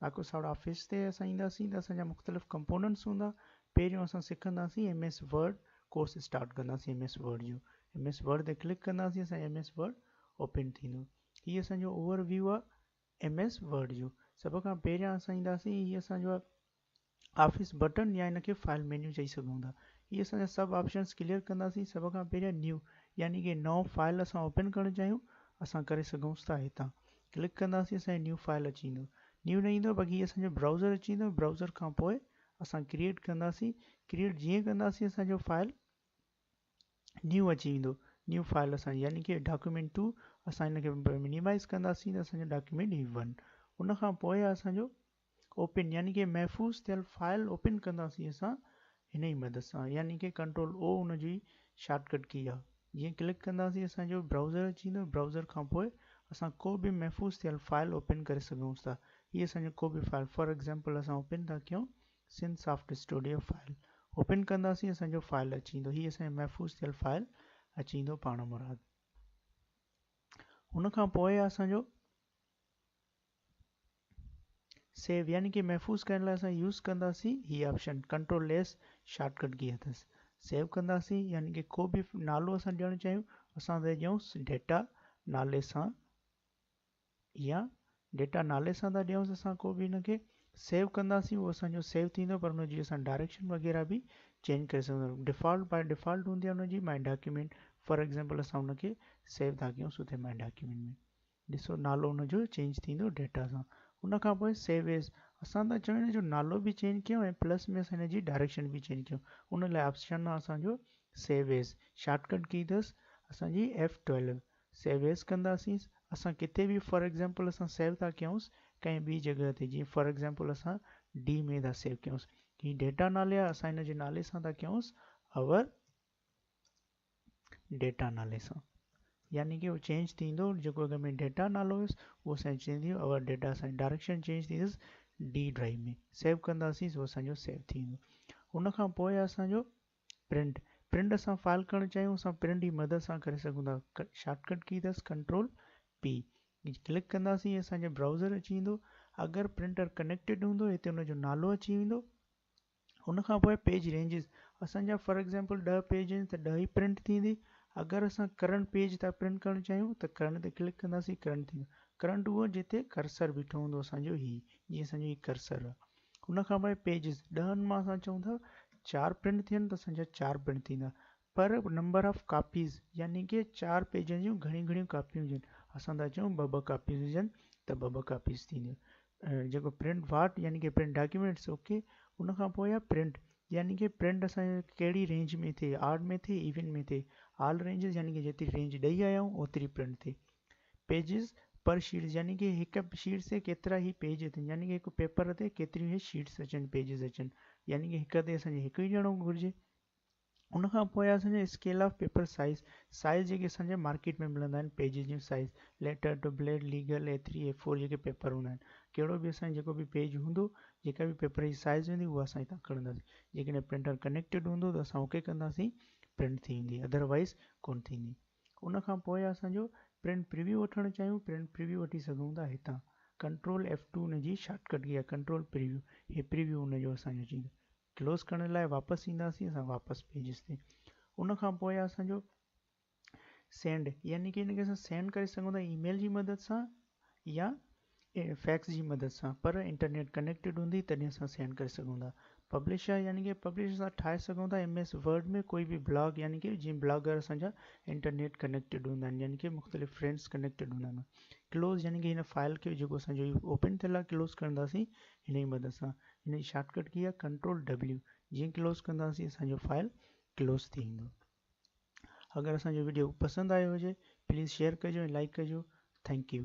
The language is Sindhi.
باقي ساڙا آفيس تي اسان اينداسين ته اسان جا مختلف ڪمپوننٽس هوندا پهريون اسان سکنداسين M S Word course start ڪنداسين ايم ايس ورڊ جو ايم ايس ورڊ تي ڪلڪ ڪنداسين اسان ايم ايس ورڊ اوپن ٿيندو هي اسان جو اوور ويو آ ايم ايس ورڊ جو سڀ کان پهريان اسان اينداسين هي اسان جو آفيس بٽڻ يا ان کي فائل مينيو چئي سگهون ٿا هي اسان جا سڀ آپشنس ڪليئر ڪنداسين سڀ کان پهريان نيو يعني ڪي نئون فائل اسان اوپن ڪرڻ چاهيون اسان ڪري سگهون ٿا هتان ڪلڪ ڪنداسين اسان جي نيو فائل اچي ويندو نيو نه ايندو باقي اسان جو براؤزر اچي ويندو براؤزر کان پوء اسان ڪريئيٽ ڪنداسين ڪريئيٽ جيئن ڪنداسين اسان جو فائل نیو اچي ويندو نیو فائل اسان يعني کہ ڊاڪيومنٽ ٽو اسان ان کي منيمائز ڪنداسين ته اسان جو ڊاڪيومنٽ هي ون ان کان پوء اسان جو اوپن يعني ڪي محفوظ ٿيل فائل اوپن ڪنداسين اسان هن ئي مدد سان يعني ڪي ڪنٽرول او ان جي شارٽ ڪٽ ڪي آ جيئن ڪلڪ ڪنداسين اسان جو برائوزر اچي ويندو برائوزر کان پوء اسان ڪو به محفوظ ٿيل فائل اوپن ڪري سگهون ٿا هي اسان جو ڪو به فائل فار ايگزامپل اسان اوپن ٿا ڪيون sun soft studio file open ڪنداسين اسان جو فائل اچي ويندو هي اسان جو محفوظ ٿيل فائل اچي ويندو پاڻ مراد ان کان پوء اسان جو سيو يعني ڪي محفوظ ڪرڻ لاء اسان يوز ڪنداسين هي آپشن ڪنٽرول ليس شارٽ ڪٽ ڪي اٿس سيو ڪنداسين يعني ڪي ڪو به نالو اسان ڏيڻ چاهيون اسان تي ڏيون ڊيٽا نالي سان يا ڊيٽا نالي سان ٿا ڏيونس اسان ڪو به ان کي سيو ڪنداسين اهو اسانجو سيو ٿيندو پر ان جي اسان ڊائريڪشن وغيرہ به چينج ڪري سگھون ٿا ڊيفالٽ باء ڊيفالٽ هوندي آهي ان جي ماء ڊاڪيومينٽ فار ايگزامپل اسان ان کي سيو ٿا ڪيون سو ٿي ماء ڊاڪيومينٽ ۾ ڏسو نالو ان جو چينج ٿيندو ڊيٽا سان ان کان پوء سيو ايز اسان ٿا چاهيون ان جو نالو به چينج ڪيون ۽ پلس ۾ اسان ان جي ڊائريڪشن به چينج ڪيون ان لاء آپشن آهي اسان جو سيو ايز شارٽ ڪٽ ڪي اٿس اسان جي ايف ٽويلو سيو ايز ڪنداسين اسان ڪٿي به فار ايگزامپل اسان سيو ٿا ڪيونس ڪنهن ٻي جڳهه تي جيئن فار ايگزامپل اسان ڊي ۾ ٿا سيو ڪيونس هي ڊيٽا نالي آهي اسان ان جي نالي سان ٿا ڪيونس اور ڊيٽا نالي سان يعني ڪي هو چينج ٿيندو جيڪو اگر ۾ ڊيٽا نالو هيس اهو سائن چينج ٿيندو اگر ڊيٽا سائن ڊائريڪشن چينج ٿيندس ڊي ڊرائيو ۾ سيو ڪنداسين اهو اسان جو سيو ٿيندو ان کان پوء اسان جو پرنٽ پرنٽ اسان فائل ڪرڻ چاهيون اسان پرنٽ جي مدد سان ڪري سگهون ٿا شارٽ ڪٽ ڪي اٿس ڪنٽرول پي ڪلڪ ڪنداسين اسان جو براوزر اچي ويندو اگر پرنٽر ڪنيڪٽيڊ هوندو هتي ان جو نالو اچي ويندو ان کان پوء پيج رينجز اسان جا فار ايگزامپل ڏهه پيج آهن ته ڏهه ئي پرنٽ ٿيندي اگر اسان ڪرنٽ پيج ٿا پرنٽ ڪرڻ چاهيون ته ڪرنٽ تي ڪلڪ ڪنداسين ڪرنٽ ٿيندو ڪرنٽ اهو جتي ڪرسر بيٺو هوندو اسان جو هي جي اسان جو هي ڪرسر آهي ان کان پوء پيجز ڏهن مان اسان چون ٿا چار پرنٽ ٿين ته اسان جا چار پرنٽ ٿيندا پر نمبر آف ڪاپيز يعني ڪي چار پيجن جون گهڻيون گهڻيون ڪاپيون هجن اسان ٿا چئون ٻه ٻه ڪاپيز هجن ته ٻه ٻه ڪاپيز ٿينديون جيڪو پرنٽ واٽ يعني ڪي پرنٽ ڊاڪيومينٽس اوڪي ان کان پوء آهي پرنٽ يعني ڪي پرنٽ اسان ڪهڙي رينج ۾ ٿئي آرڊ ۾ ٿئي ايون ۾ ٿئي آل رينجز يعني ڪي جيتري رينج ڏئي آيا آهيون اوتري پرنٽ ٿئي پيجز پر شيٽس يعني ڪي هڪ شيٽس تي ڪيترا هي پيج اچن يعني ڪي هڪ پيپر تي ڪيتريون هي شيٽس اچن پيجز اچن يعني ڪي هڪ تي اسان کي هڪ ئي ڄڻو گهرجي ان کان پوء اسان جي scale of paper size, size جيڪي اسان جي مارڪيٽ ۾ ملندا آهن پيجز جون size, letter tabloid, legal, A three, A four جيڪي پيپر هوندا آهن، ڪهڙو به اسان جي جيڪو به پيج هوندو، جيڪا به پيپر جي سائيز هوندي اها اسان هتان کڻنداسين، جيڪڏهن پرنٽر ڪنيڪٽيڊ هوندو ته اسان اوڪي ڪنداسين پرنٽ ٿي ويندي اڌر وائيز ڪونه ٿيندي. ان کان پوء اسان جو پرنٽ پريويو وٺڻ چاهيون پرنٽ پريويو وٺي سگهون ٿا هتان ڪنٽرول ايف ٽو ان جي شارٽ ڪٽ ڪي آهي ڪنٽرول پريويو هي پريويو ان جو اسان جو اچي ويندو. ڪلوز ڪرڻ لاء واپس اينداسين اسان واپس پيجز تي ان کان پوء اسان جو سينڊ يعني ڪي ان کي اسان سينڊ ڪري سگهون ٿا اي ميل جي مدد سان يا فيڪس جي مدد سان پر انٽرنيٽ ڪنيڪٽيڊ هوندي تڏهن اسان سينڊ ڪري سگهون ٿا پبلشر يعني ڪي پبلشر اسان ٺاهي سگهون ٿا ايم ايس ورڊ ۾ ڪوئي به بلاگ يعني ڪي جي بلاگر اسان جا انٽرنيٽ ڪنيڪٽيڊ هوندا آهن يعني ڪي مختلف فرينڊس ڪنيڪٽيڊ هوندا آهن ڪلوز يعني ڪي هن فائل کي جيڪو اسان جو اوپن ٿيل آهي ڪلوز ڪرنداسين هن جي مدد سان هن جي شارٽ ڪٽ ڪي آهي ڪنٽرول W جيئن ڪلوز ڪنداسين اسان جو فائل ڪلوز ٿي ويندو اگر اسان جو ويڊيو پسند آيو هجي پليز شيئر ڪجو ۽ لائڪ ڪجو ٿينڪ يو